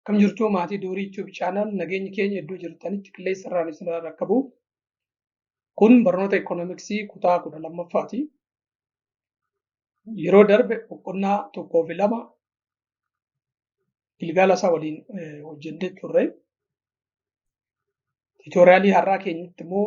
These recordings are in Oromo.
Akkam jirtuu maatii Doorii YouTube channel nageenyi keenya iddoo jirtanitti qilleensa irraan isin rakkabu. Kun barnoota ikoonomiksii kutaa kudha lammaffaati. Yeroo darbe boqonnaa tokkoo fi lama gilgaala isaa waliin eh, hojjennee turre. Tiitooriyaalii har'aa keenyatti immoo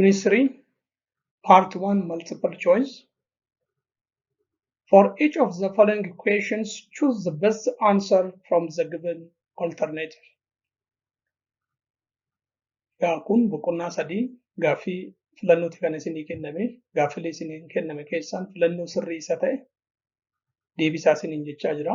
ministry part 1 multiple choice for each of the following questions choose the best answer from the given alternative yaa kun boqonnaa sadii gaaffii filannooti kan isinii kenname gaaffilee isiniin kenname keessaan filannoo sirrii isa ta'e deebisaa isiniin jechaa jira.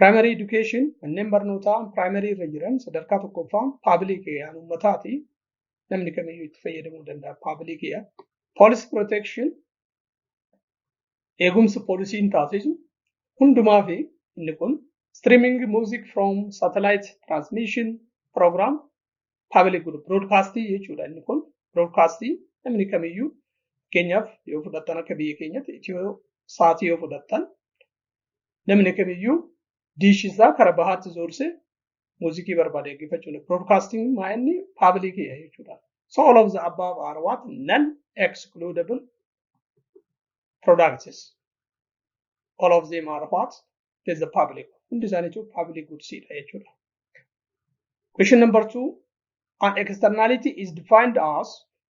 Primary education manneen barnootaa primary irra jiran sadarkaa tokkoffaan public aan uummataati. Namni kamiyyuu itti fayyadamuu danda'a public yaa. Police protection eegumsa poolisiin taasisu hundumaa fi inni kun streaming music from satellite transmission program public group broadcast jechuudha inni kun broadcast namni kamiyyuu fakkeenyaaf yoo fudhattan akka biyya keenyatti itiyoo saatii yoo fudhattan namni kamiyyuu diishii isaa kara bahaatti zoorsee muuzikii barbaade dhaggeeffachuu danda'a. Broadcasting maa inni paabilikiidha jechuudha. So all of the above are what non-excludable products. All of them are what is the public. Hundi isaanii jechuun public goods dha jechuudha. Question number two, an externality is defined as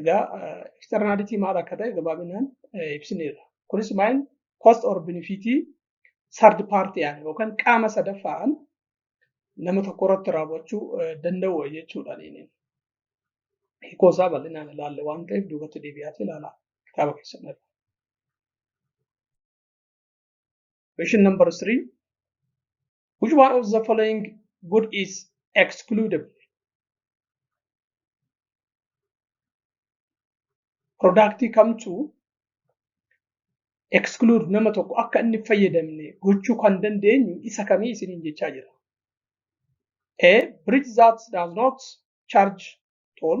Egaa externality maal akka ta'e gabaabinaan ibsineera. Kunis maal cost or benefit third party aan yookaan qaama sadaffaan nama tokko irratti raawwachuu danda'u jechuudha. Hiikoo isaa bal'inaan ilaalle waan ta'eef duubatti deebi'aatee ilaalaa kitaaba keessan irra. Question number three. Which one of the following good is excludable? Productii kamtu exclude nama tokko akka inni fayyadamne gochuu kan dandeenyu isa kamii isiniin jechaa jira. A. Bridge that does not charge toll.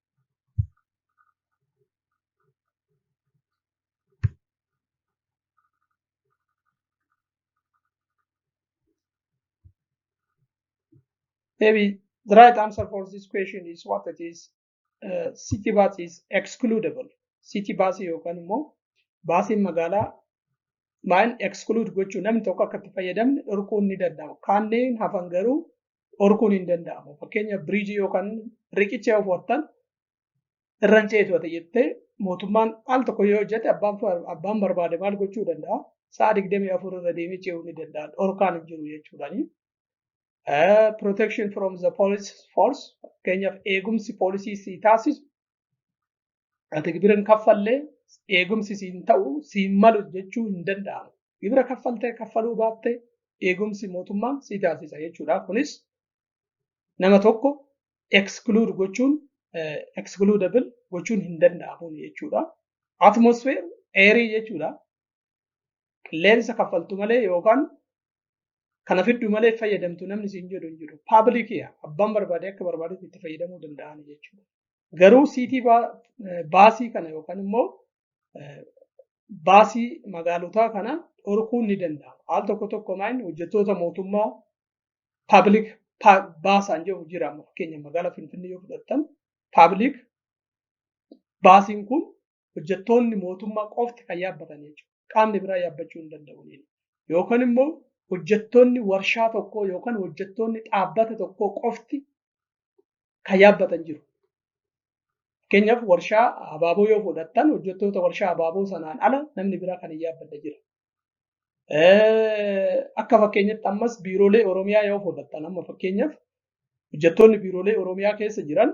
Maybe the right answer for this question is what it is. Uh, city bus is excludable. City bus yookaan immoo baasiin magaalaa maal exclude gochuu namni tokko akka itti fayyadamne dhorkuun ni danda'ama. Kanneen hafan garuu dhorkuun hin danda'amu. Fakkeenya biriijii yookaan riqicha yoo fo'attan irraan ceetu ati jettee mootummaan al tokko yoo hojjete abbaan barbaade maal gochuu danda'a? Sa'a digdamii afur irra deemee ce'uu ni danda'a. Dhorkaan hin jiru jechuudhaani. Protection from the police force fakkeenyaaf eegumsi poolisii si taasisu Ati gibira hin kaffallee eegumsi siin ta'u siin malu jechuu hin danda'amu. Gibira kaffaltee kaffaluu baattee eegumsi mootummaan si taasisa jechuudha. Kunis nama tokko exclude gochuun excludable gochuun hin danda'amu jechuudha. Atmosphere eerii jechuudha. Qilleensa kaffaltu malee yookaan Kana fiddu malee fayyadamtu namni siin jedhu hin jiru. Paablikiya abbaan barbaade akka barbaadetti itti fayyadamuu danda'an jechuudha. Garuu siitii baasii kana yookaan immoo baasii magaalotaa kana dhorkuun ni danda'ama. Al tokko tokko maayin hojjettoota mootummaa paablik baasaan jedhu jira. Fakkeenya magaalaa Finfinnee yoo fudhattan paablik baasiin kun hojjettoonni mootummaa qofti kan yaabbatan jechuudha. Qaamni biraa yaabbachuu hin danda'u. Yookaan immoo hojjettoonni warshaa tokkoo yookaan hojjettoonni dhaabbata tokkoo qofti kan yaabbatan jiru. Fakkeenyaaf warshaa abaaboo yoo fudhattan hojjettoota warshaa abaaboo sanaan ala namni biraa kan hin yaabbate jira. Akka fakkeenyatti ammas biiroolee Oromiyaa yoo fudhattan amma fakkeenyaaf hojjettoonni biiroolee Oromiyaa keessa jiran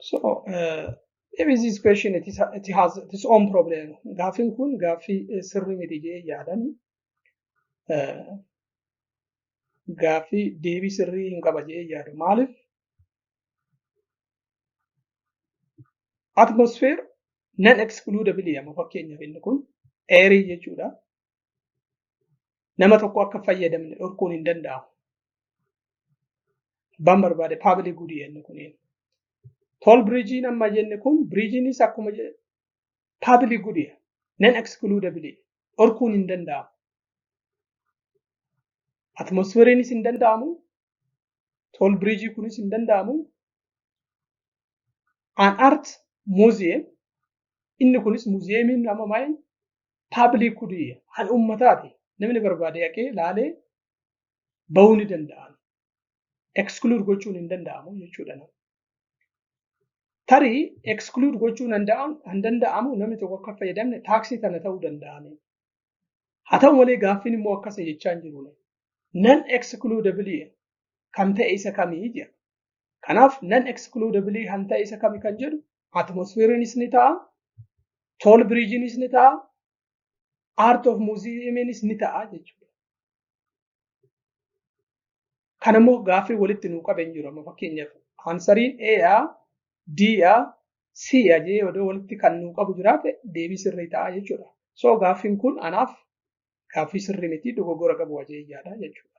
So, uh, maybe this question it, is, it has its own problem. Gaaffiin kun gaaffii eh, sirri miti jee yaadani. Eh, Gaaffii deebii sirrii hin qaba jee yaadu. Maaliif? Atmosphere non excludably amma fakkeenyaaf inni kun eerii jechuudha. nama tokko akka fayyadamne dhorkuun hin danda'amu. Abbaan barbaade paabilik gudii jenne kuniin. Tool biriijiin amma jenne kun biriijiinis akkuma paabilik gudii nan ekskuluudabilii dhorkuun hin danda'amu. Atmosfeeriinis hin danda'amu. Tool biriijii kunis hin danda'amu. An art muuziyeem inni kunis muuziyeemiin amma maayii paabilik kudii kan uummataati namni barbaade haqee laalee bahuu ni danda'an. Ekskuluud gochuun hin danda'amu jechuudha. Tarii ekskuluud gochuun hin danda'amu namni tokko akka fayyadamne taaksii kana ta'uu danda'ame. Haa ta'u malee gaaffiin immoo akkasa jechaa hin jiru. Nan ekskuluudabilii kan ta'e isa kamii jedha. Kanaaf nan excludably kan ta'e isa kami kan jedhu atmosfeeriinis ni ta'a, tool biriijiinis ni ta'a, art of muuziyeemiinis ni ta'a jechuudha. Kan immoo gaaffii walitti nuu qabe hin jiru amma fakkeenyaaf aansariin A, D, C jedhee odoo walitti kan nuu qabu jiraate deebii sirrii ta'a jechuudha. So gaaffiin kun anaaf gaaffii sirrii miti dogoggora qabu ajajjaadha jechuudha.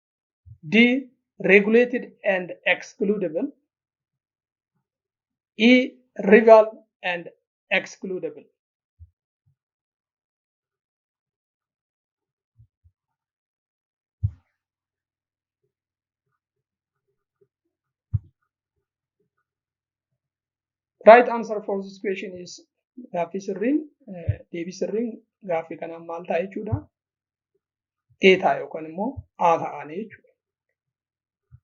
D. Regulated and excludable. E. Rival and excludable. Right answer for this question is gaaffii sirriin deebii sirriin gaaffii kanaan maal ta'a jechuudha. data yookaan immoo haasa'anii jechuudha.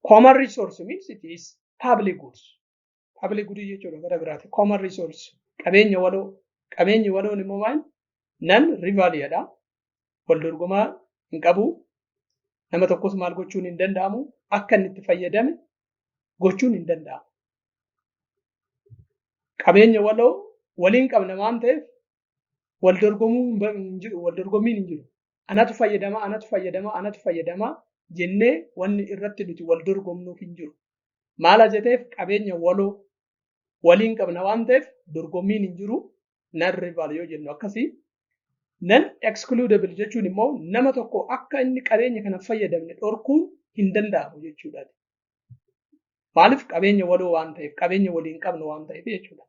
Common resource means it is public goods. Public goods jechuudha gara biraati. Common resource qabeenya waloo. Qabeenyi waloon immoo maal? Nan rivaliyadha. Wal dorgomaa hin qabu. Nama tokkos maal gochuun hin danda'amu. Akka inni itti fayyadame gochuun hin danda'amu. Qabeenya waloo waliin qabna waan ta'eef wal dorgomuu hin ba- hin jiru wal dorgommiin hin jiru anatu fayyadama anatu fayyadama anatu fayyadama jennee wanni irratti nuti wal dorgomnuuf hin jiru maala jeteef qabeenya waloo waliin qabna waan ta'eef dorgommiin hin jiru nan rival yoo jennu akkasii nan excludable jechuun immoo nama tokko akka inni qabeenya kana hin fayyadamne dhorkuun hin danda'amu jechuudha. Maaliif qabeenya waloo waan ta'eef qabeenya waliin qabnu waan ta'eef jechuudha.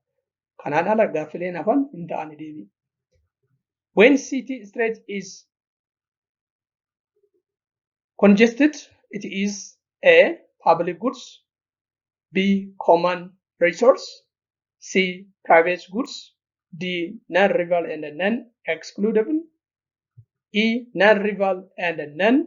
Kanaan ala gaaffileen hafan hin ta'ani deebii. When city street is congested it is a public goods B common resource C private goods D non rival and non excludable E non rival and non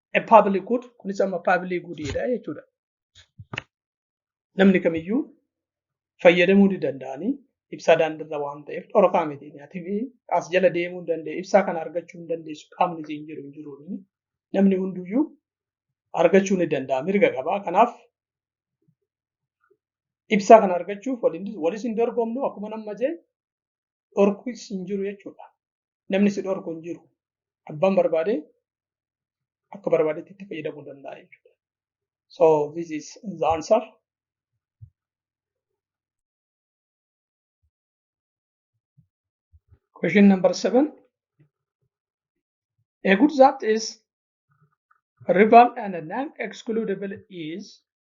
a public good kunis amma public good dha jechuudha. Namni kamiyyuu fayyadamuu ni danda'anii ibsaa daandirra waan ta'eef dhorkaa miti. Atifi as jala deemuu hin danda'e ibsaa kana argachuu hin dandeessu qaamni siin jiru hin jiru. Namni hunduyyuu argachuu ni danda'a mirga qaba. Kanaaf ibsaa kana argachuuf walis hin dorgomnu akkuma nama jee dhorkuus hin jiru jechuudha. namni si dhorku hin jiru. Abbaan barbaade akka barbaadetti itti fayyadamuu danda'a jechuudha. So this is the answer. Question number seven. A good that is rival and non-excludable is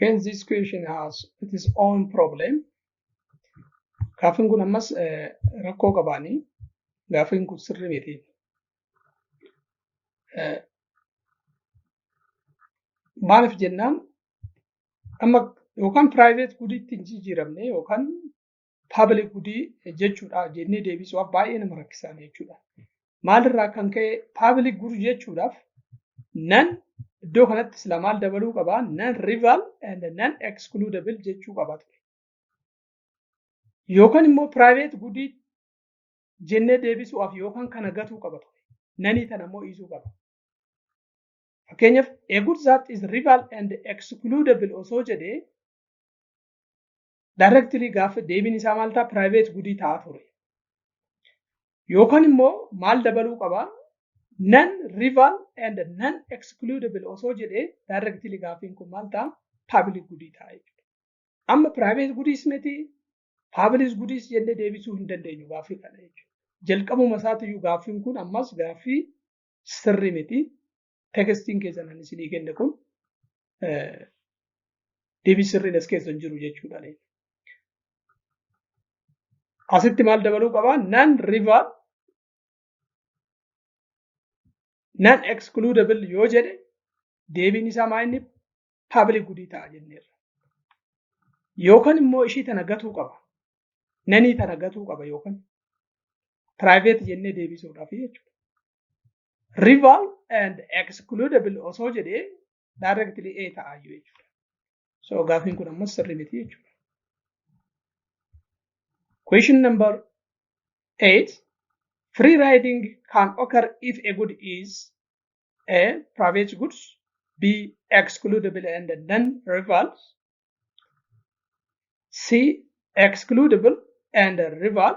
Hence this question has its own problem. Gaaffiin kun ammas rakkoo qabaanii gaaffiin kun sirrii miti. Maaliif jennaan amma yookaan private gudiitti hin jijjiiramne yookaan paabili gudii jechuudha jennee deebisuuf baay'ee nama rakkisaan jechuudha. Maalirraa kan ka'e paabili gud jechuudhaaf nan iddoo kanatti sila maal dabaluu qaba nan rival and nan excludable jechuu qaba ture. Yookaan immoo private gudii jennee deebisuuf yookaan kana gatuu qaba ture. Nanii tana immoo dhiisuu qaba. Fakkeenyaaf a good that is rival and excludable osoo jedhee Directly gaafa deebiin isaa maal ta'a? Private gudii ta'a ture. Yookaan immoo maal dabaluu qaba? Non rival and non excludable osoo jedhee directly gaafiin kun maal ta'a? Public gudii ta'a jechuudha. Amma private gudiis miti public gudiis jennee deebisuu hin dandeenyu gaafii kana jechuudha. Jalqabuma isaatiyyuu gaaffiin kun ammas gaaffii sirrii miti. tekstiin keessan ani isinii kenne kun deebii sirriin as keessa hin jiru jechuudha. Asitti maal dabaluu qabaa? Nan river nan excludable yoo jedhe deebiin isaa maa inni public gudii ta'a jenneerra. Yookaan immoo ishii tana gatuu qaba. Nanii tana gatuu qaba yookaan private jennee deebisuudhaaf jechuudha. rival and excludable osoo jedhee directly A ta'a iyyuu jechuudha. So gaafiin kun ammas sirrii miti jechuudha. Question number 8. Free riding can occur if a good is A. Private goods B. Excludable and non-rivals C. Excludable and rival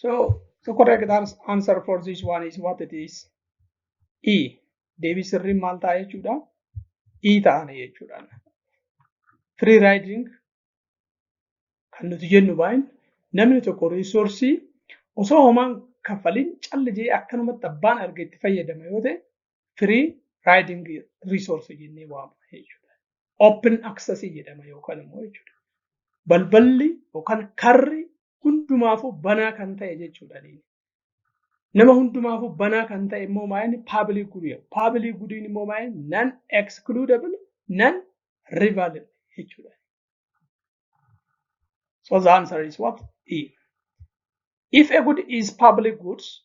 So the correct ans- answer for this one is what it is. E. Deebii sirriin maal ta'a jechuudha? E ta'an jechuudha. Free riding kan nuti jennu baay'in namni tokko riisoorsii osoo homaan kaffaliin calli jee akkanumatti abbaan arge itti fayyadama yoo ta'e firii raayiding riisoorsi jennee waamna jechuudha. Open access jedhama yookaan immoo jechuudha. Balballi yookaan karri hundumaafuu banaa kan ta'e jechuudha. Nama hundumaafuu banaa kan ta'e immoo maayini paabilii gudii. Paabilii gudiin immoo maayini nan excludable nan rivalable jechuudha. So the answer is what? E. If a good is public goods,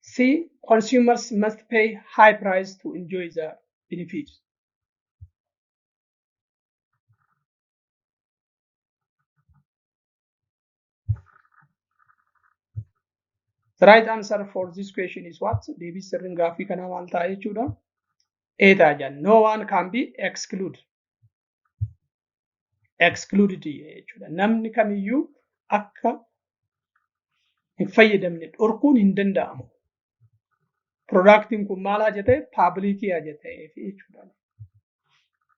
C. Consumers must pay high price to enjoy the benefits. The right answer for this question is what? Deebii sirriin gaaffii kanaa maal ta'a jechuudha? A ta'a jedha. No one can be excluded. excluded jechuudha. Namni kamiyyuu akka hin fayyadamne dhorkuun hin danda'amu. Piroodaaktiin kun maalaa jetee paabilikiyaa jetee jechuudha.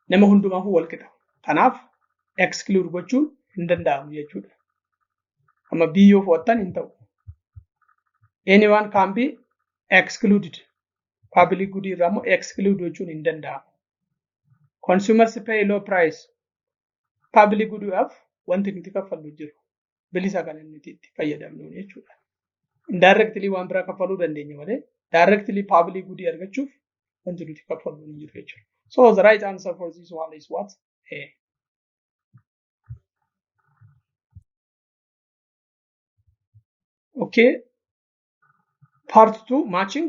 Nama hundumaaf wal qixa. Kanaaf exclude gochuun hin danda'amu jechuudha. Amma B yoo fudhattan hin ta'u. Anyone can be excluded. Paabilik gudii irraa immoo exclude gochuun hin danda'amu. consumers pay low price public goodhaaf wanti nuti kaffallu jiru bilisa kan nuti itti fayyadamnu jechuudha. Indirectly waan biraa kaffaluu dandeenya malee directly public good argachuuf wanti nuti kaffallu hin jiru jechuudha. So the right answer for this one is what? A. Okay. Part 2 matching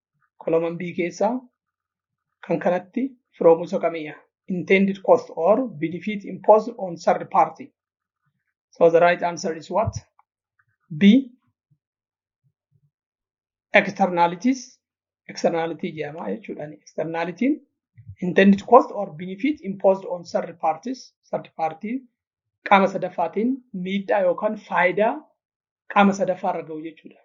koloman B keessaa kan kanatti firoomuusa kamiya intended cost or benefit imposed on third party. So the right answer is what? B. Externalities. Externality jedhama jechuudha. Externality intended cost or benefit imposed on third parties. Third party qaama sadaffaatiin miidhaa yookaan faayidaa qaama sadaffaa irra gahu jechuudha.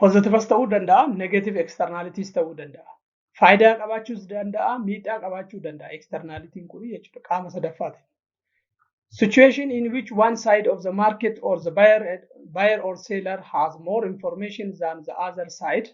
Pozitiivas ta'uu danda'a, negeetiiv eksternaaliitiis ta'uu danda'a. Faayidaa qabaachuus danda'a, miidhaa qabaachuu danda'a eksternaaliitiin kun jechuudha qaama sadaffaatiin. Situation in which one side of the market or the buyer, buyer or seller has more information than the other side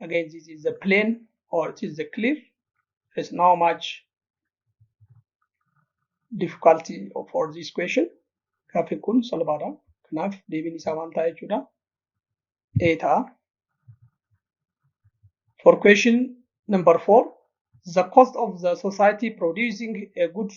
again this is the plane or it is the cliff there is no much difficulty for this question gaaffiin kun salphaadha kanaaf deebiin isaa maal ta'a jechuudha a ta'a for question number four the cost of the society producing a goods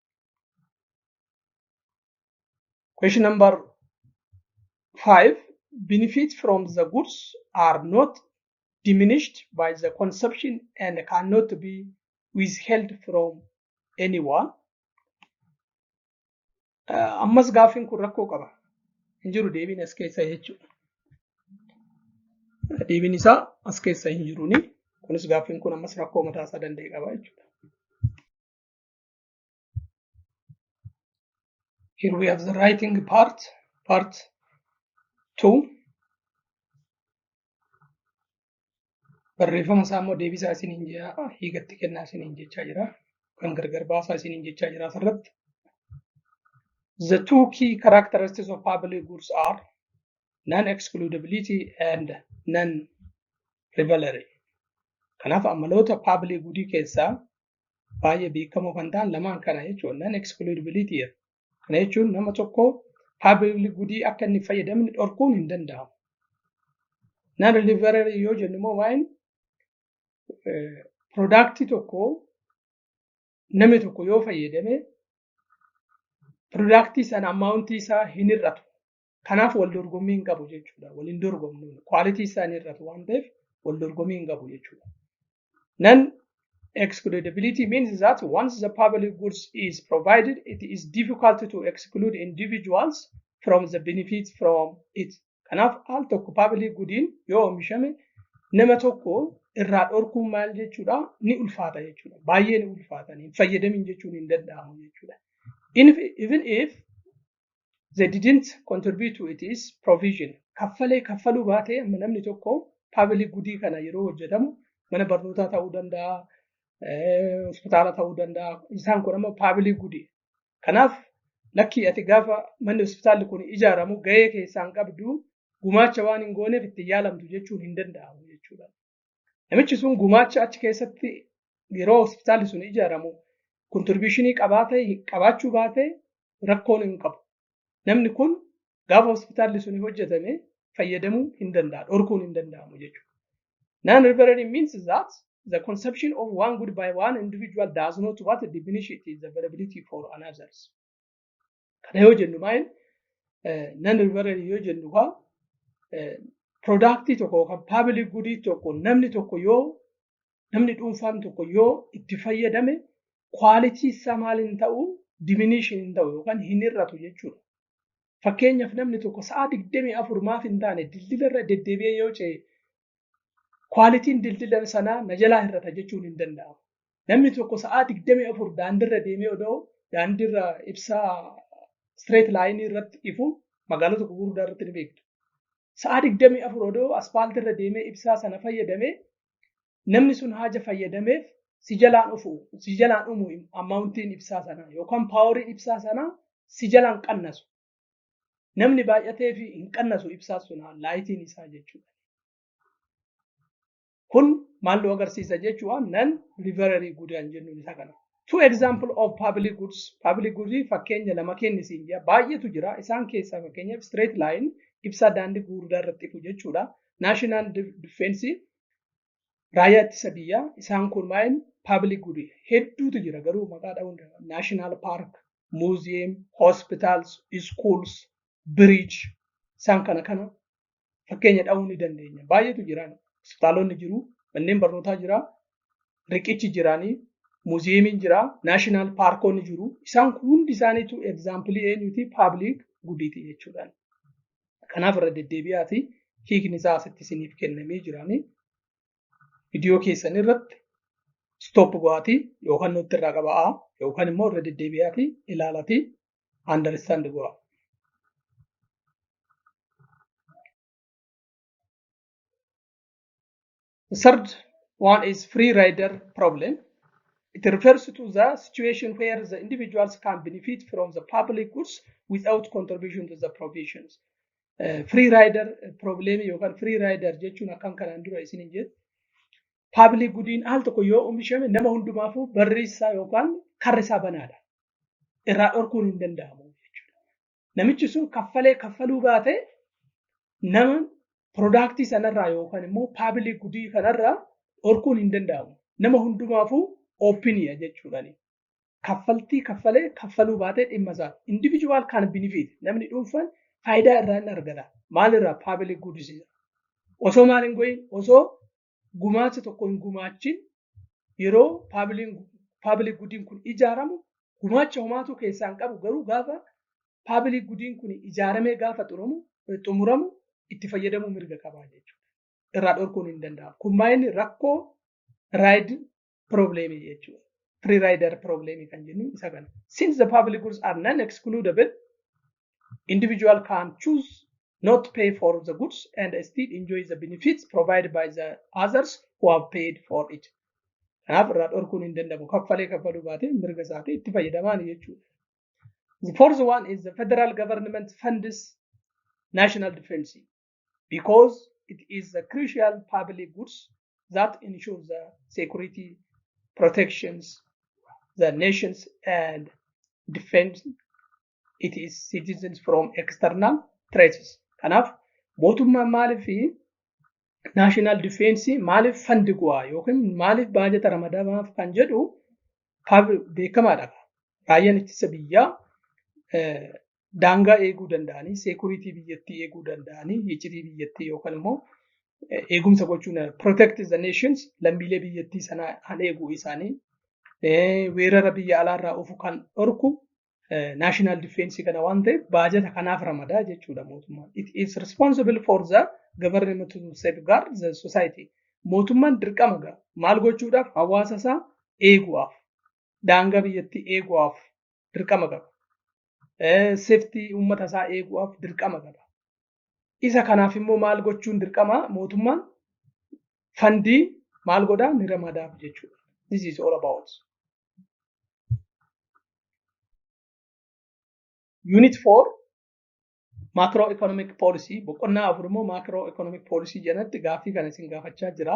Question number five. Benefit from the goods are not diminished by the consumption and cannot be withheld from anyone. Uh, ammas gaaffiin kun rakkoo qaba. Hin jiru deebiin as keessa jechuudha. Deebiin isaa as keessa hin jiruuni. Kunis gaaffiin kun ammas rakkoo mataa isaa danda'e qaba jechuudha. Here we have the writing part, part 2. Barreeffama isaa immoo deebisaa isiniin jechaa hiikatti kennaa isiniin jechaa jira. Kan gargar baasaa isiniin jechaa jira asirratti. The two key characteristics of public goods are non-excludability and non-rivalry. Kanaaf amaloota public goodii keessaa baay'ee beekamoo kan ta'an lamaan kana jechuudha. Nan excludability jedha. Kana jechuun nama tokko public goodii akka inni fayyadamne dhorkuun hin danda'amu. Nan deliverer yoo jennu immoo waa'een product tokko namni tokko yoo fayyadame product sana amount isaa hin hir'atu. Kanaaf wal dorgommii hin qabu jechuudha. Wal hin dorgomnu. Kwaalitii isaanii irratti waan ta'eef wal dorgommii hin qabu jechuudha. Nan excludability means that once the public goods is provided, it is difficult to exclude individuals from the benefit from it. Kanaaf al tokko public goodiin yoo oomishame nama tokko irraa dhorkuun maal jechuudha ni ulfaata jechuudha. Baay'ee ni ulfaata. Hin fayyadamin jechuun hin danda'amu jechuudha. Even if they didn't contribute to its provision kaffalee kaffaluu baatee amma namni tokko paabilii gudii kana yeroo hojjetamu mana barnootaa ta'uu danda'a hospitaala ta'uu danda'a isaan kun amma paabilii gudii kanaaf lakkii ati gaafa manni hospitaalli kun ijaaramu gahee keessaan qabdu gumaacha waan hin gooneef itti yaalamtu jechuun hin danda'amu jechuudha. Namichi sun gumaacha achi keessatti yeroo hospitaalli sun ijaaramu kontiribishinii qabaatee qabaachuu baatee rakkoon hin qabu. Namni kun gaafa hospitaalli sun hojjetame fayyadamuu hin danda'a, dhorkuun hin danda'amu jechuudha. Non-reverend means that the consumption of one good by one individual does not what diminish its availability for another. Kana yoo jennu maal nan rivarali yoo jennu kaa piroodaaktii tokko yookaan paabilik gudii tokko namni tokko yoo namni dhuunfaan tokko yoo itti fayyadame kwaalitii isaa maal hin ta'u diminishin hin ta'u yookaan hin hir'atu jechuudha. Fakkeenyaaf namni tokko sa'a digdamii afur maaf hin taane dildila irra deddeebi'ee yoo ce'e kwaalitiin dildila sanaa na jalaa hir'ata jechuun hin danda'amu. Namni tokko sa'aa 24 daandirra deemee odoo daandirra ibsaa straight line irratti ifu magaalota gurguddaa irratti ni beektu. Sa'aa 24 odoo aspaaltii irra deemee ibsaa sana fayyadamee namni sun haja fayyadameef si jalaan ufu si jalaan umu ammaawuntiin ibsaa sanaa yookaan paaworiin ibsaa sanaa si jalaan qannasu Namni baay'atee fi hin qannasu ibsaa sunaa laayitiin isaa jechuudha. Kun maal nu agarsiisa jechuudha nan livererii gudaan jennuun isa kana. Two example of public goods. Public goods fakkeenya lama kenni siin jira. Baay'eetu jira. Isaan keessaa fakkeenyaaf straight line ibsaa daandii gurguddaa irratti ifu jechuudha. National defense raayyaa ittisa biyyaa isaan kun maa'in paabilik gudi hedduutu jira garuu maqaa dha'uun naashinaal paark, muuziyeem, hospitaals, iskuuls, biriij isaan kana kana fakkeenya dha'uu ni dandeenya. Baay'eetu jira hospitaalonni jiru, manneen barnootaa jira, riqichi jiraanii, muuziyeemiin jira, naashinaal paarkonni jiru. Isaan kun hundi isaaniitu egzaampilii eenyuti paabilik gudiiti jechuudhaan. Kanaaf irra deddeebi'aati hiikni isaa asitti isiniif kennamee jiraanii viidiyoo keessan irratti stoop go'aatii yookaan nutti irraa qaba'aa yookaan immoo irra deddeebi'aati ilaalaati understand go'a. The third one is free rider problem. It refers to the situation where the individuals can benefit from the public goods without contribution to the provisions. Uh, free rider problem yookaan free rider jechuun akkan kanaan dura isin hin jedhu. Public goodiin al tokko yoo oomishame nama hundumaafuu barri isaa yookaan karri isaa banaadha. Irraa dhorkuun hin danda'amu jechuudha. namichi sun kaffalee kaffaluu baatee nama piroodaaktii sanarraa yookaan immoo paabilii gudii kanarraa dhorkuun hin danda'amu. Nama hundumaafuu oopiniya jechuudhaani. Kaffaltii kaffalee kaffaluu baatee dhimma isaa. Individual kan benefit namni dhuunfaan faayidaa irraa hin argata. Maalirraa paabilii gudisiisa. Osoo maal hin goyin osoo gumaacha tokko hin gumaachin yeroo paabilik gudiin kun ijaaramu gumaacha homaatuu keessaa hin qabu garuu gaafa paabilik gudiin kun ijaaramee gaafa xumuramu itti fayyadamuu mirga qabaa jechuudha. Irraa dhorkuun hin danda'amu. Kun maayini rakkoo raayid probleemii jechuudha. Free rider probleemii kan jennu isa kana. Since the public goods are non-excludable, individual can choose not to pay for the goods and still enjoy the benefits provided by the others who have paid for it. Kanaaf irraa dhorkuun hin danda'amu. Kaffalee kaffaluu baatee mirga isaatii itti fayyadamaan jechuudha. The fourth one is the federal government funds national defense. because it is the crucial public goods that ensure the security protections the nations and defends it is citizens from external threats. Kanaaf mootummaan maaliif fi national defense maaliif fandi go'a yookiin maaliif baajata ramadamaaf kan jedhu beekamaadha. Raayyaan ittisa biyyaa daangaa eeguu danda'anii seekuriitii biyyattii eeguu danda'anii iccitii biyyattii yookaan immoo eegumsa gochuun protect the nations lammiilee biyyattii sanaa kan eeguu isaanii weerara biyya alaarraa ofu kan dhorku national defense kana waan ta'eef baajata kanaaf ramadaa jechuudha mootummaan. It is responsible for the government to safeguard the society. Mootummaan dirqama maal gochuudhaaf hawaasa isaa eeguudhaaf daangaa biyyattii eegu'aaf dirqama qaba. Seftii uummata isaa eegu'aaf dirqama qaba. Isa kanaaf immoo maal gochuun dirqama mootummaan fandii maal godhaa ni ramadaaf jechuudha. This is all about. Unit 4 Macro Economic Policy boqonnaa afur immoo Macro Economic Policy jedhanitti gaaffii kana isin gaafachaa jira.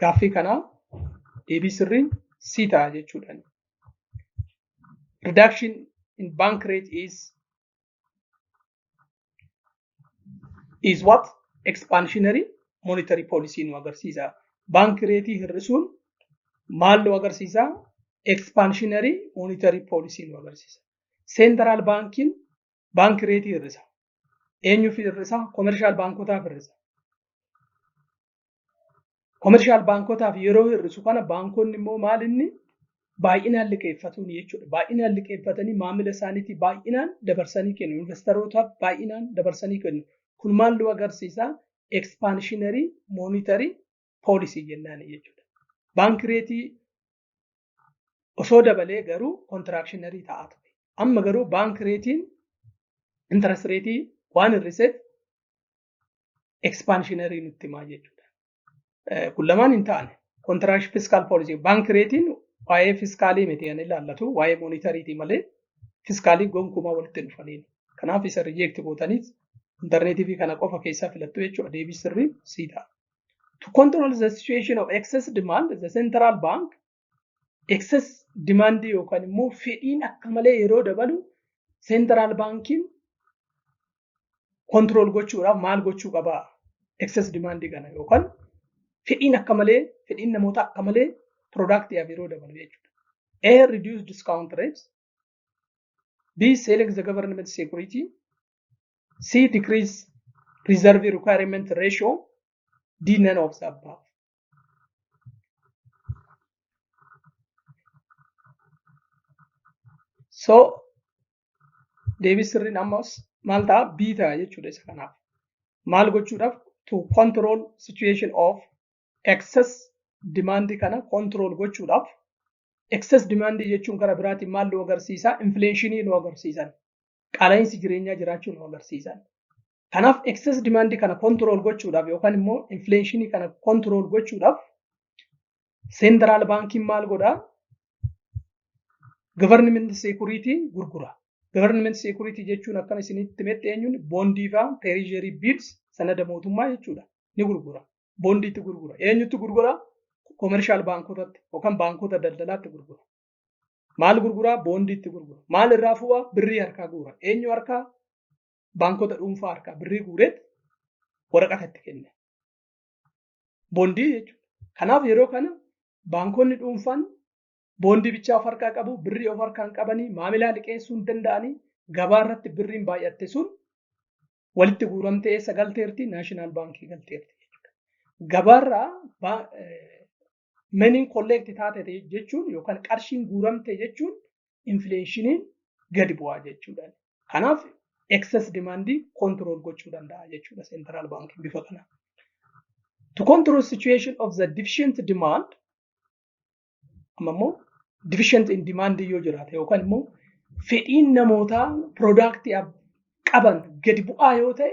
gaaffii kanaa deebii sirriin C ta'a jechuudha. Reduction in bank rate is is what expansionary monetary policy nu agarsiisa. Baanki reetii hir'isuun maal nu agarsiisa? Expansionary monetary policy nu agarsiisa. Central baankiin baanki reetii hir'isa. Eenyuuf hir'isa? Komershaal baankotaaf hir'isa. Komershaal baankotaaf yeroo hir'isu kana baankonni immoo maal inni baay'inaan liqeeffatuun jechuudha. Baay'inaan liqeeffatanii maamila isaaniitii baay'inaan dabarsanii kennu. Investaroota baay'inaan dabarsanii kennu. Kun maal nu agarsiisa? Ekspaanshinarii moonitarii poolisii jennaan jechuudha. Baanki reetii osoo dabalee garuu kontiraakshiinarii ta'aa ture. Amma garuu baank reetiin intarest reetii waan hir'iseef ekspaanshiinarii nutti himaa jechuudha. Kun lamaan hin taane kontiraakshin fiskaal poolisii baank reetiin waa'ee fiskaalii miti kan ilaallatu waa'ee moonitariitii malee fiskaalii gonkumaa walitti hin dhufaniin. Kanaaf isa rijeekti gootaniis intarneetiivii kana qofa keessaa filattu jechuudha deebii sirrii sii ta'a. to control the situation of excess demand the central bank excess demand yookaan immoo fedhiin akka malee yeroo dabalu central bankiin control gochuudhaaf maal gochuu qaba excess demand kana yookaan fedhiin akka malee fedhiin namoota akka malee productiyaaf yeroo dabalu jechuudha. A reduce discount rates B selling the government security C decrease reserve requirement ratio D none of the above. So deebii sirriin ammas maal ta'a B ta'a jechuudha isa kanaaf. Maal gochuudhaaf to control situation of excess demand kana control gochuudhaaf excess demand jechuun gara biraatiin maal nu agarsiisa inflation nu agarsiisan. qaala'insi jireenyaa jiraachuu nu agarsiisan. Kanaaf excess demand kana control gochuudhaaf yookaan immoo inflation kana control gochuudhaaf central bankiin maal godhaa? Government security gurgura. Government security jechuun akkana isinitti himetti eenyuun bondii faa treasury bills sanada mootummaa jechuudha. Ni gurgura. Bondiitti gurgura. Eenyutti gurgura? Commercial baankotatti yookaan baankota daldalaatti gurgura. Maal gurguraa? Boondiitti gurgura. Maal irraa fu'a? Birrii harkaa guura. Eenyu harkaa? Baankota dhuunfaa harkaa birrii guureet waraqata itti kenne. Boondii jechuudha. Kanaaf yeroo kana baankonni dhuunfaan boondii bichaa of harkaa qabu, birrii of harkaan qabanii, maamilaa liqeessuu hin danda'anii, gabaa irratti birriin baay'atte sun walitti guuramtee eessa galteerti? Naashinaal baankii galteerti. Gabaarraa meniin kolleekti taatete jechuun yookaan qarshiin guuramte jechuun infleeshiniin gadi bu'aa jechuudha. Kanaaf excess demand control gochuu danda'a jechuudha central bank bifa kana. To control situation of the deficient demand amma immoo deficient in demand yoo jiraate yookaan immoo fedhiin namootaa piroodaaktii qaban gadi bu'aa yoo ta'e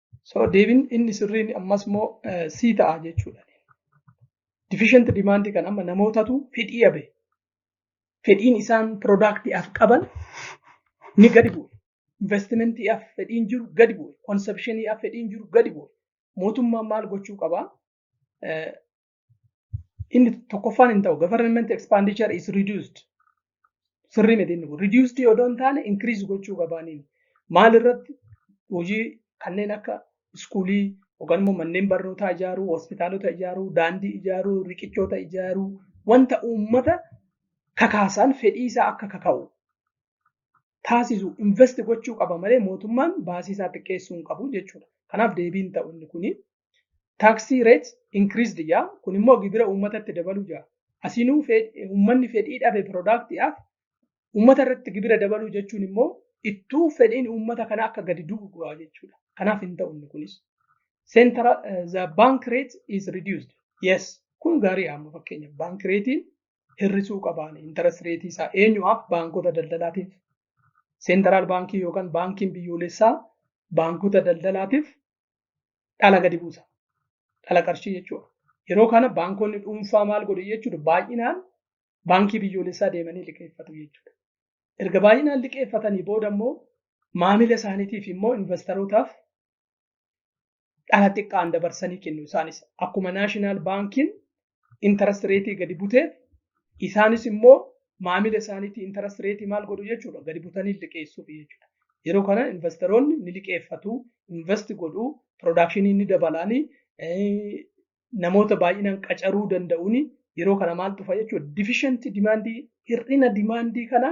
So deebiin inni sirriin ammas immoo sii ta'a jechuudha. Deficient demand kan amma namootatu fedhii dhabe. Fedhiin isaan piroodaaktiidhaaf qaban ni gadi bu'e. Investimentiidhaaf fedhiin jiru gadi bu'e. Konsepshiniidhaaf fedhiin jiru gadi bu'e. Mootummaan maal gochuu qaba? Inni tokkoffaan hin ta'u. Government expenditure is reduced. Sirrii miti inni kun. Reduced yoo hin taane increase gochuu qabaaniin. Maal irratti hojii kanneen akka iskuulii yookaan immoo manneen barnootaa ijaaruu, hospitaalota ijaaruu, daandii ijaaruu, riqichoota ijaaruu, wanta uummata kakaasan fedhii isaa akka kaka'u taasisu invest gochuu qaba malee mootummaan baasii isaa xiqqeessuu hin qabu jechuudha. Kanaaf deebiin ta'u inni kuni Taxi rates increased jaa kun immoo gibira uummatatti dabaluu jaa. Asinuu uummanni fedhii dhabe piroodaaktiidhaaf uummata irratti gibira dabaluu jechuun immoo ittuu fedhiin uummata kana akka gadi du'u go'a jechuudha. Kanaaf hin ta'u inni kunis. Central uh, the bank rate is reduced. Yes, kun gaarii amma fakkeenya bank reetiin hir'isuu qabaan interest reetii isaa eenyumaaf baankota daldalaatiif seentaraal baankii yookaan baankiin biyyoolessaa baankota daldalaatiif dhala gadi buusa. Dhala qarshii jechuudha. Yeroo kana baankonni dhuunfaa maal godhu jechuudha baay'inaan baankii biyyoolessaa deemanii liqeeffatu jechuudha. Erga baay'inaan liqeeffatanii booda immoo maamila isaaniitiif immoo invastarootaaf dhala xiqqaan dabarsanii kennu isaanis akkuma naashinaal baankiin interest rate gadi butee isaanis immoo maamila isaaniitii interest rate maal godhu jechuudha gadi butanii liqeessuuf jechuudha. Yeroo kana investeroonni ni liqeeffatu, invest godhu, production ni dabalaanii namoota baay'inaan qacaruu danda'uuni yeroo kana maal dhufa jechuudha. Deficient demand hir'ina demand kana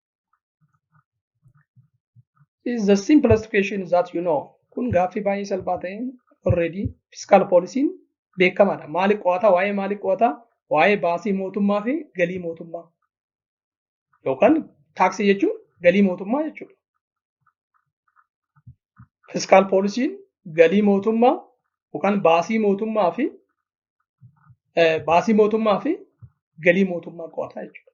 is the simplest question that you know kun gaaffii baay'ee salphaa ta'een already fiskaal poolisiin beekamaadha maali qo'ata waa'ee maali qo'ata waa'ee baasii mootummaa fi galii mootummaa yookaan taaksii jechuun galii mootummaa jechuudha fiskaal poolisiin galii mootummaa yookaan baasii mootummaa fi baasii mootummaa fi galii mootummaa qo'ataa jechuudha.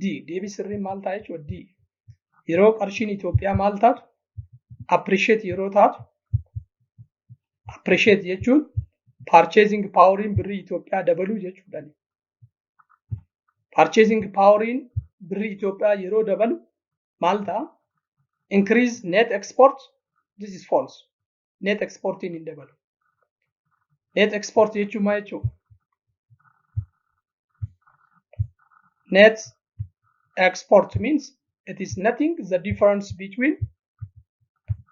D. Deebii sirriin maal ta'a jechuudha? D. Yeroo qarshiin Itoophiyaa maal taatu? Appreciate yeroo taatu. Appreciate jechuun purchasing poweriin birrii Itoophiyaa dabaluu jechuudha. Purchasing poweriin birrii Itoophiyaa yeroo dabalu maal ta'a? Increase net export. This is false. net exportiin hin dabalu. Net export jechuun maal jechuudha? Net export means it is nothing the difference between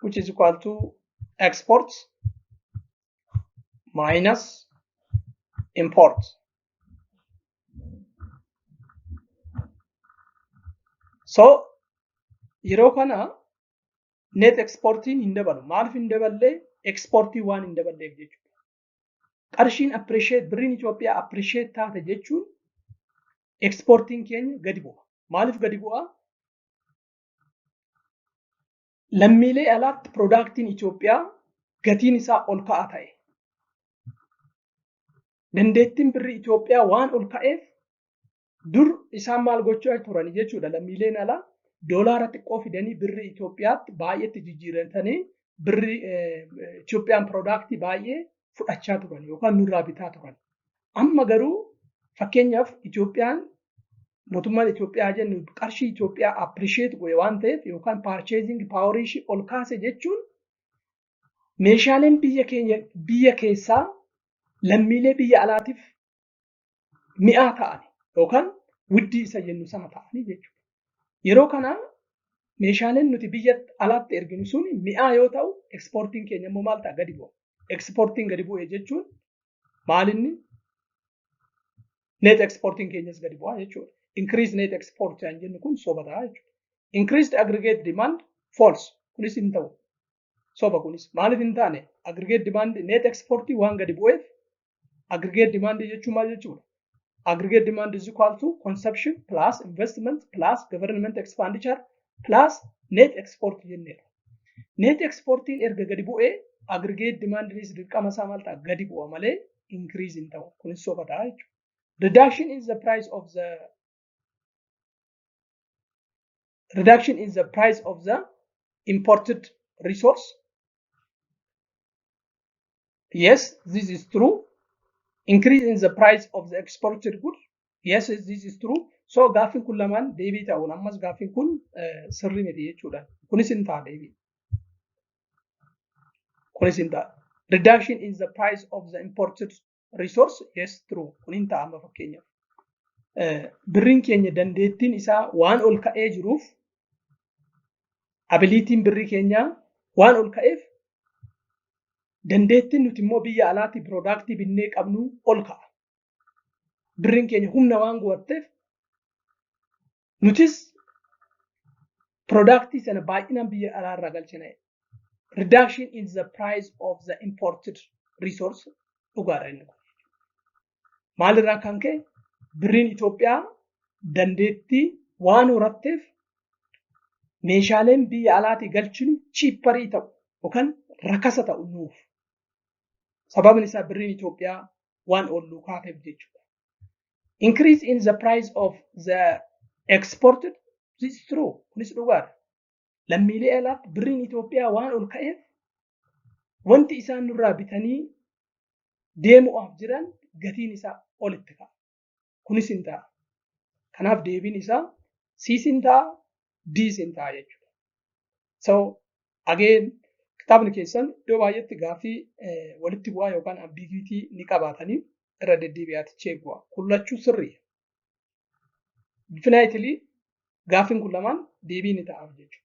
which is equal to export minus import. So yeroo kana net exportiin hin dabalu. Maaliif hin daballee exportii waan hin daballeef jechuudha. Qarshiin appreciate birriin Itoophiyaa appreciate taate jechuun exportiin keenya gadi bu'a. Maaliif gadi bu'a? Lammiilee alaatti piroodaaktiin Itoophiyaa gatiin isaa ol ka'aa ta'e. Dandeettiin birrii Itoophiyaa waan ol ka'eef Dur isaan maal gochaa turan jechuudha lammiileen alaa doolaara xiqqoo fidanii birri Itoophiyaatti baay'eetti jijjiirratanii birri Itoophiyaan piroodaaktii baay'ee fudhachaa turan yookaan nurraa bitaa turan. Amma garuu fakkeenyaaf Itoophiyaan mootummaan Itoophiyaa jennu qarshii Itoophiyaa appirisheet godhe waan ta'eef yookaan paarcheeziing paawarii ishii ol kaase jechuun meeshaaleen biyya keenya biyya keessaa lammiilee biyya alaatiif mi'aa ta'an yookaan widdii isa jennu sana ta'anii jechuudha. Yeroo kana meeshaaleen nuti biyya alaatti erginu sun mi'aa yoo ta'u ekspoortiin keenya immoo maal ta'a gadi bu'a. Ekspoortiin gadi bu'e jechuun maalinni net ekspoortiin keenyas gadi bu'a jechuudha. Increase net export kan jennu kun soba ta'a jechuudha. Increased aggregate demand false kunis hin ta'u. soba kunis maaliif hin taane aggregate demand net export waan gadi bu'eef aggregate demand jechuun maal jechuudha aggregate demand is equal to consumption plus investment plus government expenditure plus net export jenneera net exportiin erga gadi bu'ee aggregate demandinis dirqama isaa maal ta'a gadi bu'a malee increase hin ta'u kunis soba ta'a jechuudha reduction is the price of the reduction in the price of the imported resource yes this is true increase in the price of the exported good yes this is true so gaaffiin kun lamaan deebii ta'uun ammas gaaffiin kun sirrii miti jechuudha kunis hin ta'a deebii kunis hin ta'a reduction in the price of the imported resource yes true kun hin ta'a amma fakkeenyaaf birriin keenya dandeettiin isaa waan ol ka'ee jiruuf abiliitiin birrii keenyaa waan ol ka'eef dandeettiin nuti immoo biyya alaatii piroodaaktii binnee qabnu ol ka'a. Birriin keenya humna waan gubatteef Nutis product sana baay'inaan biyya alaa irraa galchina. Reduction in the price of the imported resource dhugaadha inni kun. Maalirraa kan ka'e birriin Itoophiyaa dandeettii waan horatteef meeshaaleen biyya alaatii galchinu chiipparii ta'u yookaan rakasa ta'u nuuf. Sababni isaa birriin Itoophiyaa waan olluu kaateef jechuudha. increase in the price of the exported this is true kunis dhugaadha lammiilee alaa birriin Itoophiyaa waan ol ka'eef wanti isaan nurraa bitanii deemu'aaf jiran gatiin isaa olitti ka'a kunis hin ta'a kanaaf deebiin isaa siis hin ta'a diis hin ta'a jechuudha so Again kitaabni keessan iddoo baay'eetti gaaffii walitti bu'aa yookaan ambiguity ni qabaatanii irra deddeebi'aati cheek bu'a. Kun lachuu sirrii. Definitely gaaffiin kun lamaan deebii ni ta'aaf jechuudha.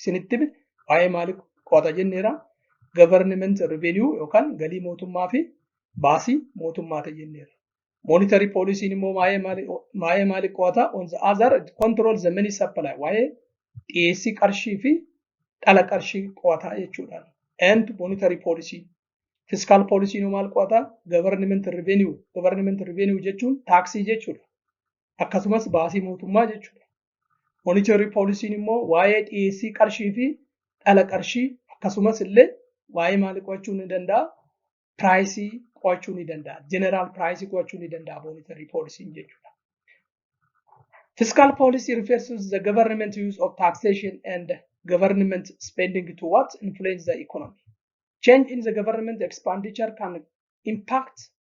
isinitti hime waa'ee maalii qo'ata jenneera government revenue yookaan galii mootummaa fi baasii mootummaati jenneera. Monetary policy immoo waa'ee maalii qo'ata on the other control the money supply waa'ee dhiyeessii qarshii fi dhala qarshii qo'ata jechuudha. And monetary policy fiskaal poolisiin maal qo'ata government revenue government revenue jechuun taaksii jechuudha akkasumas baasii mootummaa jechuudha Moonitarrii poolisiin immoo waa'ee dhiyeessii qarshii fi dhala qarshii akkasumas illee waa'ee maalii qo'achuu ni danda'a? Piraayisii qo'achuu ni danda'a. Jeneraal piraayisii qo'achuu ni danda'a moonitarrii poolisiin jechuudha. Fiscal policy refers to the government use of taxation and government spending to what influence the economy. Change in the government expenditure can impact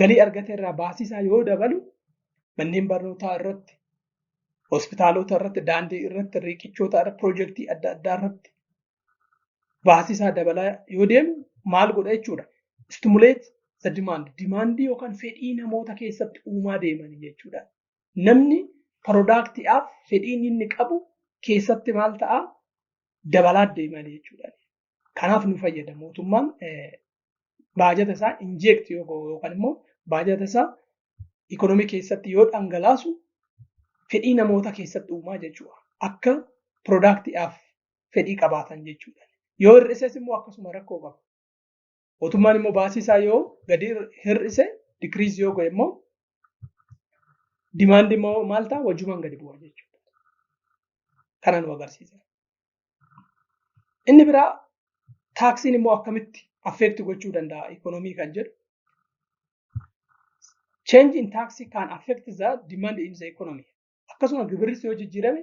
galii argate irraa baasisaa yoo dabalu manneen barnootaa irratti hospitaalota irratti daandii irratti riiqichoota irratti piroojeektii adda addaa irratti baasisaa dabalaa yoo deemu maal godha jechuudha. Stimuleet the demand. Dimaandii yookaan fedhii namoota keessatti uumaa deemanii jechuudha. Namni piroodaaktiidhaaf fedhiin inni qabu keessatti maal ta'a dabalaa deemanii jechuudha. Kanaaf nu fayyada mootummaan baajata isaa injeekti yoo godhu yookaan immoo baajata isaa ikoonomii keessatti yoo dhangalaasu fedhii namoota keessatti uumaa jechuudha. Akka piroodaaktiidhaaf fedhii qabaatan jechuudha. Yoo hir'ises immoo akkasuma rakkoo qaba. Mootummaan immoo baasii isaa yoo gadi hir'ise dikiriis yoo godhe immoo dimaandi immoo maal ta'a wajjumaan gadi bu'a jechuudha. Kana nu agarsiisa. Inni biraa taaksiin immoo akkamitti affeekti gochuu danda'a ikoonoomii kan jedhu. Change in tax can affect the demand in the economy. akkasuma gibirris yoo jijjiirame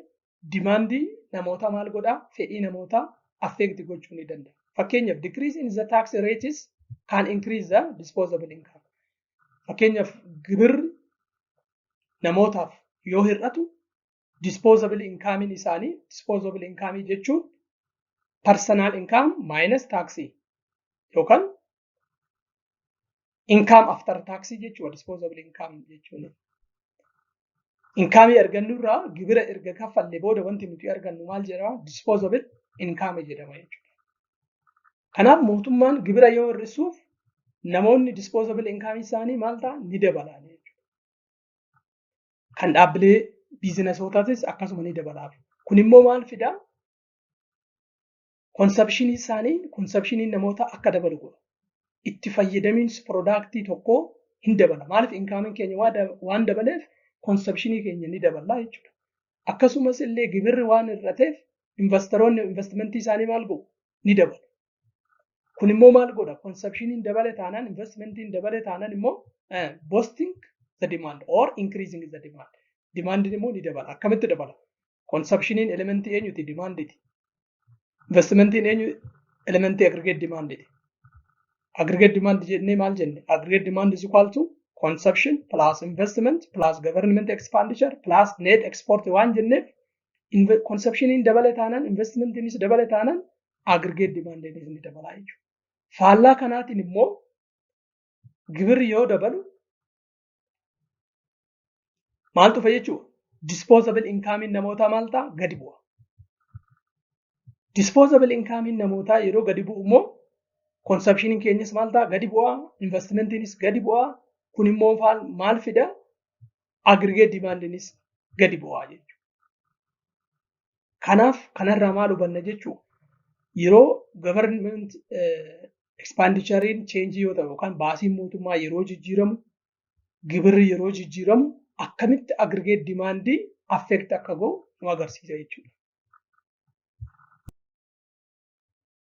dimaandii namootaa maal godhaa fedhii namootaa affeekti gochuu ni danda'a. Fakkeenyaaf decrease in the tax rates can increase the disposable income. Fakkeenyaaf gibirri namootaaf yoo hir'atu disposable inkaamiin isaanii disposable inkaamii jechuun personal income minus taxi yookaan Inkaam aftar taaksii jechuudha dispoozabili inkaam jechuun. Inkaamii argannu irraa gibira erga kaffalle booda wanti nuti argannu maal jedhama dispoozabili inkaame jedhama jechuudha. Kanaaf mootummaan gibira yoo hir'isuuf namoonni dispoozabili inkaamii isaanii maal ta'a ni dabalaa jechuudha. Kan dhaabbilee biizinasootatis akkasuma ni dabalaaf. Kun immoo maal fidaa? konsapshiniin isaanii konsapshiniin namoota akka dabalu godha. Itti fayyadamiinsi piroodaaktii tokkoo hin dabala. Maaliif inkaamiin keenya waan dabaleef konsapshinii keenya ni dabala jechuudha. Akkasumas illee gibirri waan hir'ateef investaroonni investimentii isaanii maal godhu ni dabalu. Kun immoo maal godha? Konsapshiniin dabale taanaan investimentiin dabale taanaan immoo boosting the demand or increasing the demand. Dimaandiin immoo ni dabala. Akkamitti dabala? Konsapshiniin elementii eenyuti? Dimaanditi. Investimentiin eenyu? Elementii agrigeet dimaanditi. Agrigeet dimaandi jennee maal jenne? Agrigeet dimaandi is equal to consumption plus investment plus government expenditure plus net export waan jenneef konsapshiniin dabale taanaan investimentiinis dabale taanaan agrigeet dimaandiinis ni dabalaa jechuudha. Faallaa kanaatiin immoo gibirri yoo dabalu Maal dhufa jechuudha? Disposable inkaamiin namootaa maal ta'a? Gadi bu'a. Disposable inkaamiin namootaa yeroo gadi bu'u immoo konsepshiniin keenyas maal ta'a? Gadi bu'a. Investimentiinis gadi bu'a. Kun immoo maal fida? Aggregate dimaandiinis gadi bu'a jechuudha. Kanaaf kanarraa maal hubanna jechuu yeroo government expendichariin cheenjii yoo ta'u yookaan baasiin mootummaa yeroo jijjiiramu gibirri yeroo jijjiiramu akkamitti aggregate dimaandii affect akka ga'u nu agarsiisa jechuudha.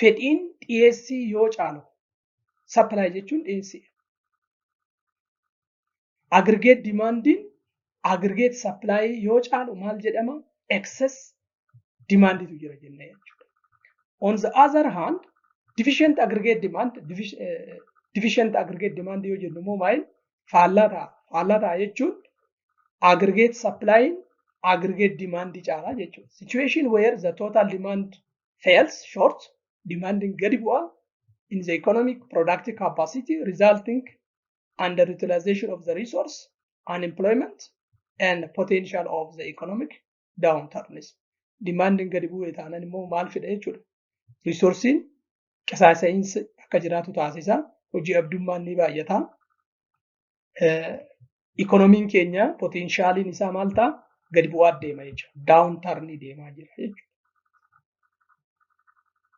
fedhiin dhiyeessii yoo caalu supply jechuun dhiyeessii aggregate dimaandiin aggregate supply yoo caalu maal jedhama excess dimaanditu jira jenna jechuudha. On the other hand deficient aggregate demand deficient aggregate demand yoo jennu immoo maal faallaa ta'a faallaa ta'a jechuun aggregate supply aggregate demand caalaa jechuudha. Situation where the total demand fails short, demanding gadi bu'a in the economic productive capacity resulting underutilization of the resource, unemployment and potential of the economic downturns. Demanding gadi bu'e taanaan immoo maal fida jechuudha. Resoursiin qisaasa'iinsi akka jiraatu taasisa. Hojii abdummaan ni baay'ata. ikoonomiin keenya potenshaaliin isaa maal ta'a gadi bu'aa deema jechuudha. Daawun tarnii deemaa jira jechuudha.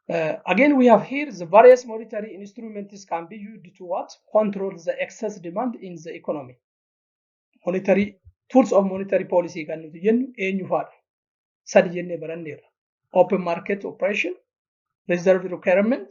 Uh, again, we have here the various monetary instruments can be used to what? Control the excess demand in the economy. Monetary tools of monetary policy kan nuti jennu eenyu faadha? Sadi jennee baranneerra. Open market operation, reserve requirement,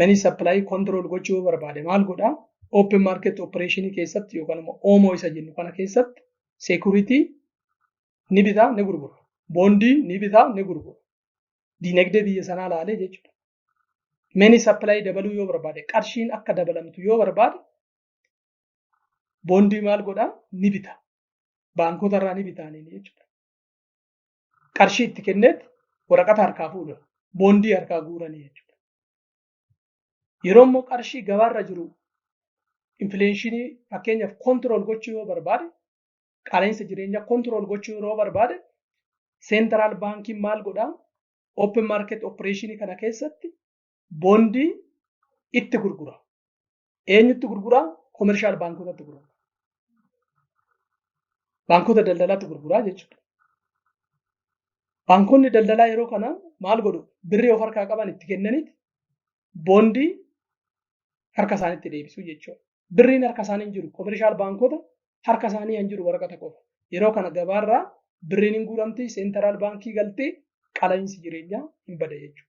manii sappilaayii kontirool gochuu yoo barbaade maal godha open market operation keessatti yookaan immoo oomoo isa jennu kana keessatti seekuritii ni bitaa ni gurgura boondii ni bitaa ni gurgura diinagdee biyya sanaa laalee jechuudha. Manii sappilaayii dabaluu yoo barbaade qarshiin akka dabalamtu yoo barbaade boondii maal godhaa ni bita baankota irraa ni bitaanii jechuudha. qarshii itti kenneet waraqata harkaa fuudha. Boondii harkaa guuranii jechuudha. Yeroo immoo qarshii gabaarra jiru infileenshinii fakkeenyaaf kontirool gochuu yoo barbaade qaala'insa jireenyaa kontirool gochuu yeroo barbaade seentiraal baankiin maal godhaa open market opereeshinii kana keessatti boondii itti gurgura. Eenyutti gurgura? Komershaal baankotatti gurgura. Baankota daldalaatti gurguraa jechuudha. Baankonni daldalaa yeroo kana maal godhu? Birrii of harkaa qaban itti kennaniiti boondii harka isaanitti deebisuu jechuudha. Birriin harka isaanii hin jiru. Komershaal baankota harka isaanii hin jiru waraqata qofa. Yeroo kana gabaarraa birriin hin guuramti, seentaraal baankii galtee qala'iinsi jireenyaa hin bada jechuudha.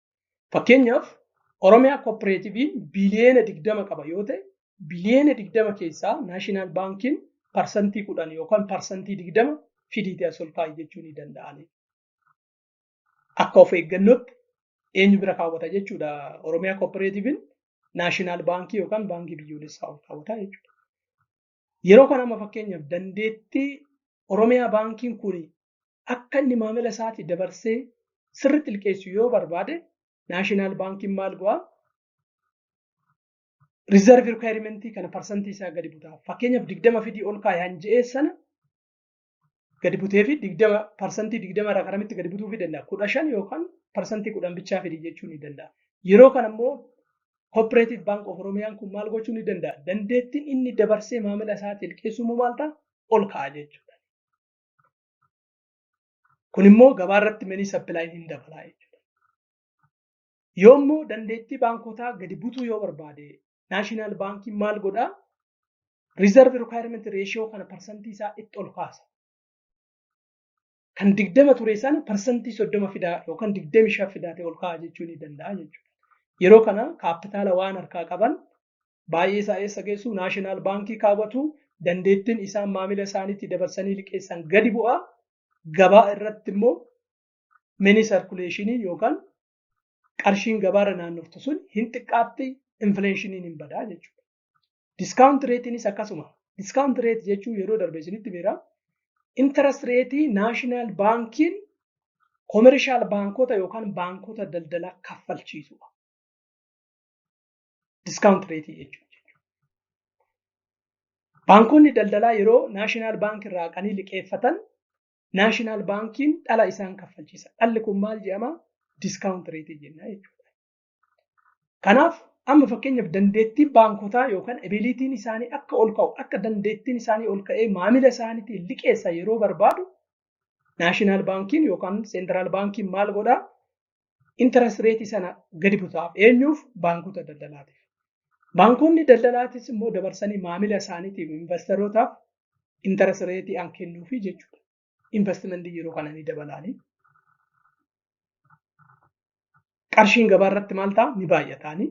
Fakkeenyaaf Oromiyaa kooppereetiviin biliyeena digdama qaba yoo ta'e biliyeena digdama keessaa naashinaal baankiin parsantii kudhan yookaan parsantii digdama fidiitii as ol kaa'i jechuu ni danda'ani. Akka of eeggannootti eenyu bira kaawwata jechuudha Oromiyaa kooppereetiviin naashinaal baankii yookaan baankii biyyoolessaa ol kaawwata jechuudha. Yeroo kana amma fakkeenyaaf dandeettii Oromiyaa baankiin kun akka inni maamila isaati dabarsee sirritti liqeessu yoo barbaade naashinaal baankiin maal go'a? Riizarvii rikwaayirimentii kana parsantii isaa gadi butaa. Fakkeenyaaf digdama fidii ol kaa'i han je'ee sana gadi butee fi digdama parsantii digdama irraa karamitti gadi butuu fi danda'a. Kudha shan yookaan parsantii kudhan bichaa fidii jechuu ni danda'a. Yeroo kana immoo Cooperative Bank of Oromiyaan kun maal gochuu ni danda'a? Dandeettiin inni dabarsee maamila isaati liqeessuu immoo maal ta'a? Ol ka'a jechuudha. Kun immoo gabaa irratti manii sappilaayii hin dabalaa jechuudha. Yoo immoo dandeettii baankotaa gadi butuu yoo barbaade naashinaal baankiin maal godhaa? Riizarvi rikwaayirmenti reeshiyoo kana parsantii isaa itti ol kaasa. Kan digdama ture sana parsantii soddoma fidaa yookaan digdami shan fidaatee ol kaa'aa jechuu ni danda'a jechuudha. Yeroo kana kaappitaala waan harkaa qaban baay'ee isaa eessa geessu naashinaal baankii kaawwatu dandeettiin isaan maamila isaaniitti dabarsanii liqeessan gadi bu'a gabaa irratti immoo mini sarkuleeshinii yookaan qarshiin gabaarra naannoftu sun hin xiqqaatti infleeshiniin hin badaa jechuudha. Diskaawunt reetiinis akkasuma. Diskaawunt reet jechuun yeroo darbe isinitti beera. Intarast reetii naashinaal baankiin koomerishaal baankota yookaan baankota daldalaa kaffalchiisudha. diskaawunt reetii jechuudha. Baankonni daldalaa yeroo naashinaal baankii irraa qanii liqeeffatan naashinaal baankiin dhala isaan kaffalchiisa. Dhalli kun maal jedhama? Diskaawunt reetii jenna jechuudha. Kanaaf amma fakkeenyaaf dandeettiin baankotaa yookaan ebiliitiin isaanii akka ol ka'u akka dandeettiin isaanii ol ka'ee maamila isaaniitiin liqeessa yeroo barbaadu naashinaal baankiin yookaan seentiraal baankiin maal godhaa? interest rate sana gadi butaaf eenyuuf baankota daldalaatiif. Baankonni daldalaatis immoo dabarsanii maamila isaaniitiif invastarootaaf interest rate an kennuufi jechuudha. Investment yeroo kana ni dabalaani. Qarshiin gabaa irratti maal ta'a ni baay'ataani.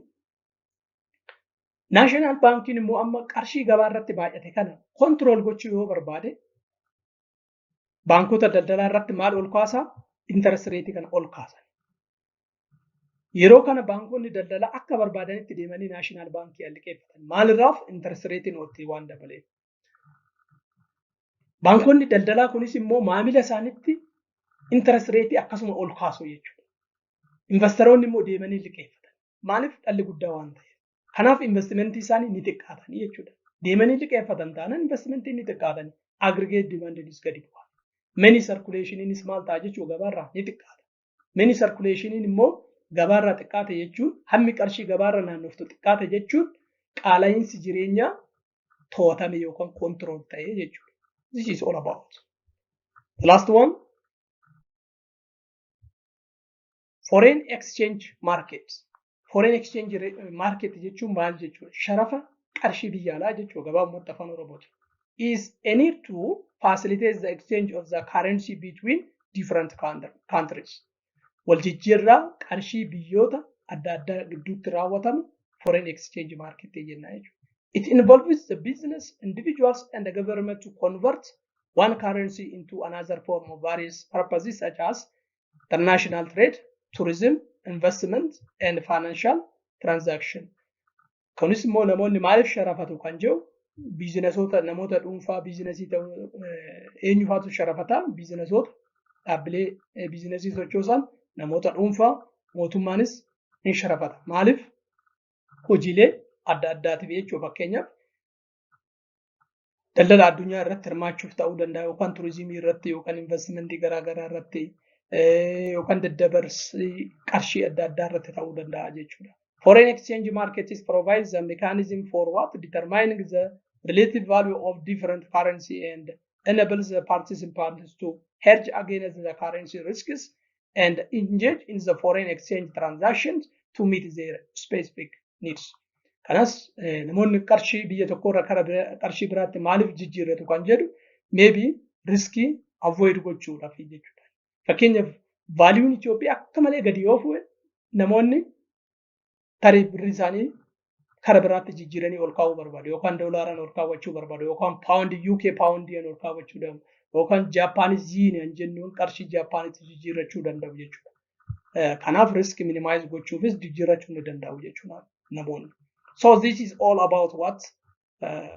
Naashinaal baankiin immoo amma qarshii gabaa irratti baay'ate kana kontirool gochuu yoo barbaade baankota daldalaa irratti maal ol kaasaa interest rate kana ol kaasan. Yeroo kana baankonni daldalaa akka barbaadanitti deemanii naashinaal baankii alliqeeffatan. Maalirraaf interest rate nootii waan dabaleef. Baankonni daldalaa kunis immoo maamila isaanitti interest rate akkasuma ol kaasu jechuudha. Investaroonni immoo deemanii liqeeffatan. Maaliif dhalli guddaa waan ta'eef. Kanaaf investimentii isaanii ni xiqqaatanii jechuudha. Deemanii liqeeffatan taanaan investimentii ni xiqqaatanii. Aggregate demandinis gadi bu'a. Meni sarkuleeshiniinis maal ta'a jechuudha gabaarraa ni xiqqaata. Meni sarkuleeshiniin immoo gabaarraa xiqqaate jechuun hammi qarshii gabaarra naannoftu xiqqaate jechuun qaala'iinsi jireenyaa to'atame yookaan koontirool ta'e jechuudha. This is all about. The last one. Foreign exchange market. Foreign exchange market jechuun maal jechuudha? Sharafa qarshii biyya alaa jechuudha gabaabumatti afaan Oromooti. Is any to facilitate the exchange of the currency between different countries. Wal jijjiirraa qarshii biyyoota adda addaa gidduutti raawwatamu foreign exchange market jenna jechuudha. It involves the business, individuals and the government to convert one currency into another form of various purposes such as international trade, tourism, investment and financial transaction. Kunis immoo namoonni maaliif sharafatu kan jiru biizinasoota namoota dhuunfaa biizinasii ta'uu eenyufaatu sharafata biizinasoota dhaabbilee biizinasii sochoosan namoota dhuunfaa mootummaanis ni sharafata. Maaliif hojiilee adda addaatiif jechuudha fakkeenyaaf daldala addunyaa irratti hirmaachuuf ta'uu danda'a yookaan turizimii irratti yookaan investimentii garaagaraa irratti yookaan daddabarsii qarshii adda addaa irratti ta'uu danda'a jechuudha. Foreign exchange markets provides a mechanism for what determining the relative value of different currency and enables the participants to hedge against the currency risks and engage in the foreign exchange transactions to meet their specific needs. Kanas namoonni qarshii biyya tokko irra kara qarshii biraatti maaliif jijjiirratu kan jedhu maybe riskii avoid gochuudhaaf jechuudha. Fakkeenyaaf vaaliyuun Itoophiyaa akka malee gadi yoo fuudhe namoonni tarii birri isaanii kara biraatti jijjiiranii ol kaa'uu barbaadu yookaan doolaaraan ol kaawwachuu barbaadu yookaan paawundi UK paawundiin ol kaawwachuu danda'u yookaan Jaappaanis yiiniyan jennuun qarshii Jaappaanitti jijjiirrachuu danda'u jechuudha. Kanaaf risk minimize gochuufis jijjiirrachuu ni danda'u jechuudha namoonni. So this is all about what uh,